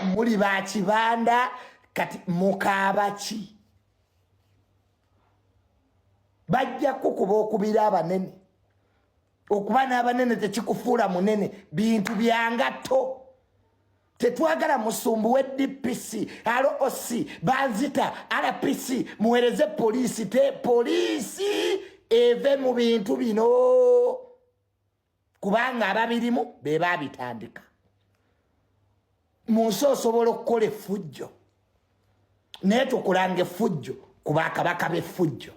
muli ba kibanda kati mukaaba ki bajja kukuba okubira abanene okuba n'abanene tekikufuula munene bintu byangatto tetwagala musumbu we dpc roc banzita rpc muwereze poliisi te poliisi eve mu bintu bino kubanga ababirimu be baabitandika mu nsi osobola okukola effujjo naye tukulanga effujjo ku bakabaka b'effujjo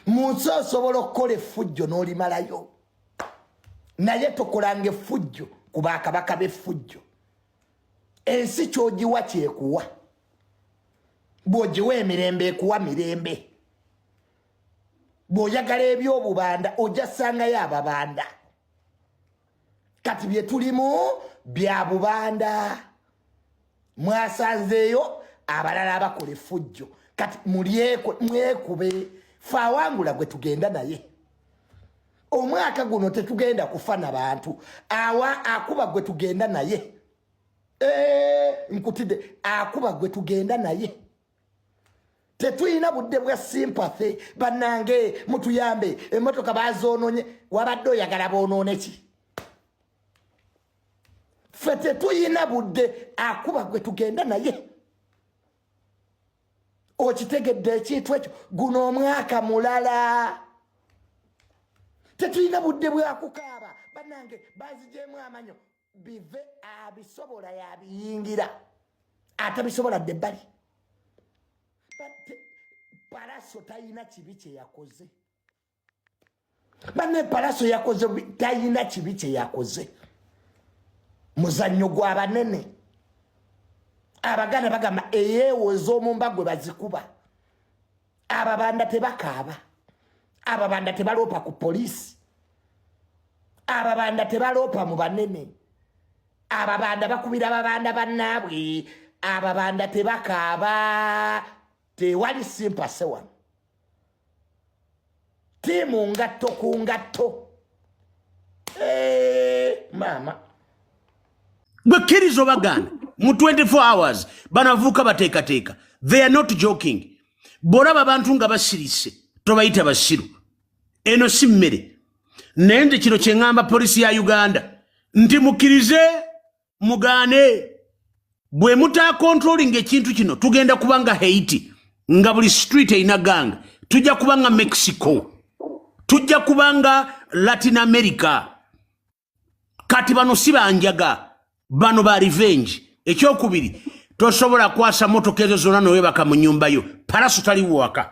mu nsi osobola okukola effujjo n'olimalayo naye tukulanga effujjo ku bakabaka b'effujjo ensi kyogiwa kyekuwa bwogiwa emirembe ekuwa mirembe bw'oyagala eby'obubanda ojja sangayo ababanda kati bye tulimu bya bubanda mwasanzeeyo abalala abakola effujjo kati mulyekwe mwekube faawangula gwe tugenda naye omwaka guno tetugenda kufa na bantu awa akuba gwe tugenda naye ee nkutide akuba gwe tugenda naye tetuyina budde bwa sympathy banange mutuyambe emotoka bazononye wabadde oyagala bonone ki fe tetuyina budde akuba gwe tugenda naye okitegedde ekintu ekyo guno omwaka mulala tetuyina budde bwakukaaba banange bazijemu amanyo bive abisobola yabiyingira atabisobola dde bali palaso tayina kibi kyeyakoze bane palaso yakoze tayina kibi kyeyakoze muzannyo gwa banene abaganda bagamba eyeewo ez'omumba gwe bazikuba ababanda tebakaaba ababanda tebaloopa ku poliisi ababanda tebaloopa mu banene ababanda bakubira ababanda bannaabwe ababanda tebakaaba tewali simpase wano tiimu ngatto ku ngatto maama gwe kkiriza obagaana mu 24 hours banavuuka bateekateeka they are not joking bw'olaba abantu nga basirise tobayita basiru eno si mmere naye nze kino kye ŋŋamba poliisi ya uganda nti mukkirize mugane bwe muta controlling ekintu kino tugenda kuba nga haiti nga buli street eina gang tujja kuba nga mexico tujja kuba nga latin america kati bano si banjaga bano ba revenge ekyokubiri tosobola kwasa motoka ezo zona nowebaka mu nyumba yo paraso taliwaka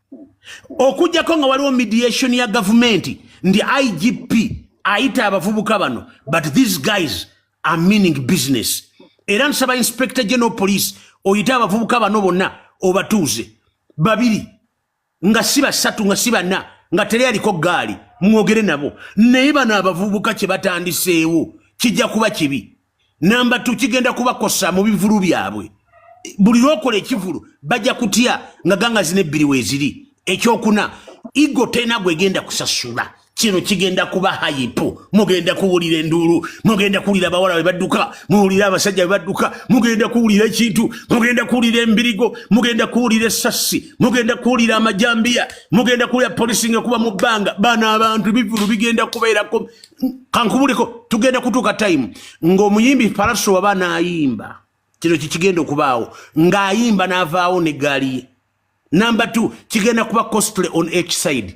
okujjako nga waliwo mediation ya gavumenti ndi igp ayita abavubuka bano but these guys are meaning business era nsaba inspector general police oyite abavubuka bano bonna obatuuze babiri nga si basatu nga si bana nga teri aliko gaali mwogere nabo naye bano abavubuka kye batandiseewo kijja kuba kibi namba tu kigenda kubakosa mu bivulu byabwe buli lwokola ekivulu bajja kutya nga ganga zina ebbiri weeziri ekyokuna igo tena gwegenda kusasula kino kigenda kuba hayipu mugenda kuwulira enduulu mugenda kuwulira abawala be badduka muwulire abasajja be badduka mugenda kuwulira ekintu mugenda kuwulira embirigo mugenda kuwulira essassi mugenda kuwulira amajambiya mugenda kuwulira polisi nga kuba mu bbanga bano abantu bivulu bigenda kubeerako kankubuleko tugenda kutuuka time ng'omuyimbi palaso waba naayimba kino kikigenda okubaawo ng'ayimba n'avaawo ne gaali ye number two kigenda kuba costly on each side